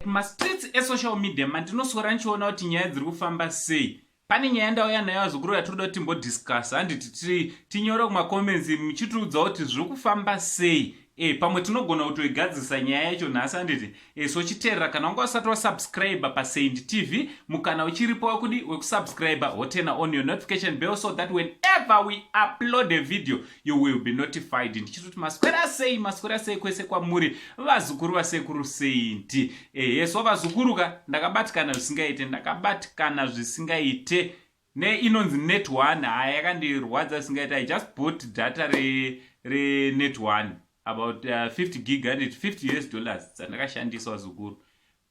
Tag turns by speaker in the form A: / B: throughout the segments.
A: mastreets esocial media mandinoswera ndichiona kuti nyaya dziri kufamba sei pane nyaya ndauya nayo azukuru yatinoda kuti timbodiscuss handiti tinyore kumacomments muchitiudza kuti zviri kufamba sei e pamwe tinogona kutoigadzisa nyaya yacho nhasi handiti e, so chiteerera kana wanga usati wasubscribe pasaint tv mukana uchiripo wakudi wekusubscribe hotena on your notification bell so that whenever we upload a video you will be notified ndichitoti maswera sei maswera sei kwese kwamuri vazukuru vasekuru saint ehe so vazukuruka ndakabatikana zvisingaite ndakabatikana zvisingaite ne inonzi net one haya yakandirwadza zvisingaiti i just bought data re renet one about uh, 50 gig handit 50 us dollars dzandakashandiswa zukuru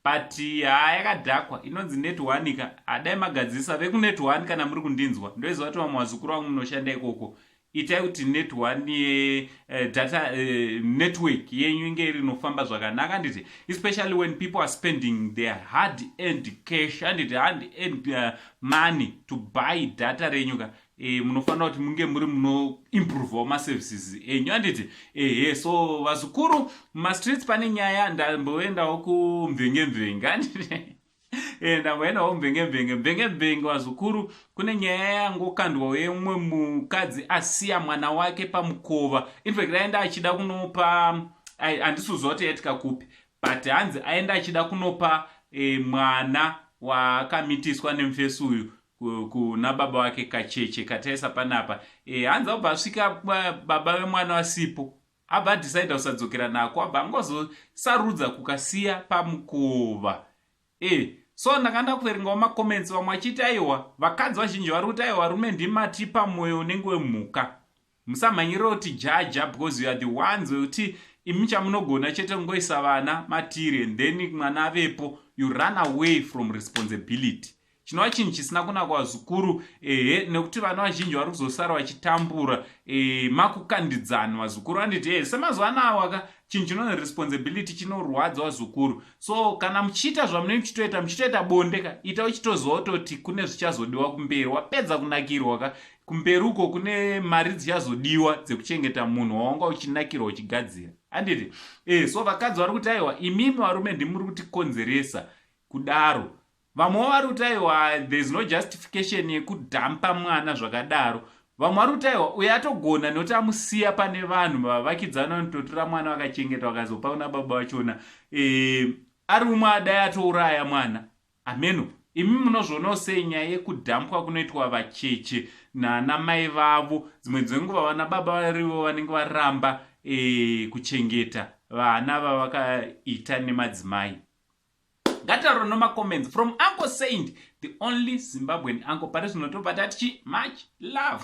A: but haa yakadhakwa inonzi net one ka adai magadzirisa vekunet one kana muri kundinzwa ndoiziva kuti vamwe vazukuru vangu munoshanda ikoko itai kuti net one ye uh, data uh, network yenyu inge iri inofamba zvakanaka handiti especially when people are spending their hard end cash handiti hard end uh, money to buy data renyu ka E, munofanira kuti munge muri munoimprovewo maservices enyu handiti ehe so vazukuru mumastreets pane nyaya ndamboendawo kumvengemvenge handiti Eh, ndamboendawo mvengembenge mvengembenge vazukuru kune nyaya yangokandwawo yemumwe mukadzi asiya mwana wake pamukova infact aenda achida kunopa handisuziva kuti yaitika kupi but hanzi aenda achida kunopa e, mwana waakamitiswa nemufesi uyu kuna baba wake kacheche kataisa panapa e, hanzi abva asvika baba vemwana vasipo Abva adecider kusadzokera nako abva angozosarudza kukasiya pamukova. Eh, so ndakanda kuverengawo macomments vamwe vachiti aiwa vakadzi vazhinji vari kuti aiwa varume ndimatipa mwoyo unenge wemhuka musamhanyirira kuti jaja because you are the ones wekuti imi chamunogona chete kungoisa vana matiri and then mwana avepo you run away from responsibility chinova chinhu chisina kunakwa zvikuru ehe nekuti vana vazhinji vari kuzosara vachitambura e, makukandidzani vazukuru vanditi e, semazuva anawaka chinhu chinonzi responsibility chinorwadza vazukuru so kana muchiita zvamunenge muchitoita muchitoita bonde ka ita uchitoziva kutoti kune zvichazodiwa kumberi wapedza kunakirwa ka kumberi uko kune mari dzichazodiwa dzekuchengeta munhu wawanga uchinakirwa uchigadzira anditi e, so vakadzi vari kuti aiwa imimi varume ndimuri kutikonzeresa kudaro Vamwe wavari kuti aiwa there is no justification yekudhampa mwana zvakadaro vamwe vari kuti aiwa uye atogona nekuti amusiya pane vanhu vavakidzani vanototora mwana vakachengeta vakazopa kuna baba vachona e, eh, ari umwe adai atouraya mwana hameno imi munozvionawo sei nyaya yekudhampwa kunoitwa vacheche naana mai vavo dzimwe dzenguva vana baba varivo vanenge varamba e, kuchengeta vana vavakaita nemadzimai ngatitaure noma comments from uncle saint the only zimbabwean uncle pari zvino tobva tati chi much love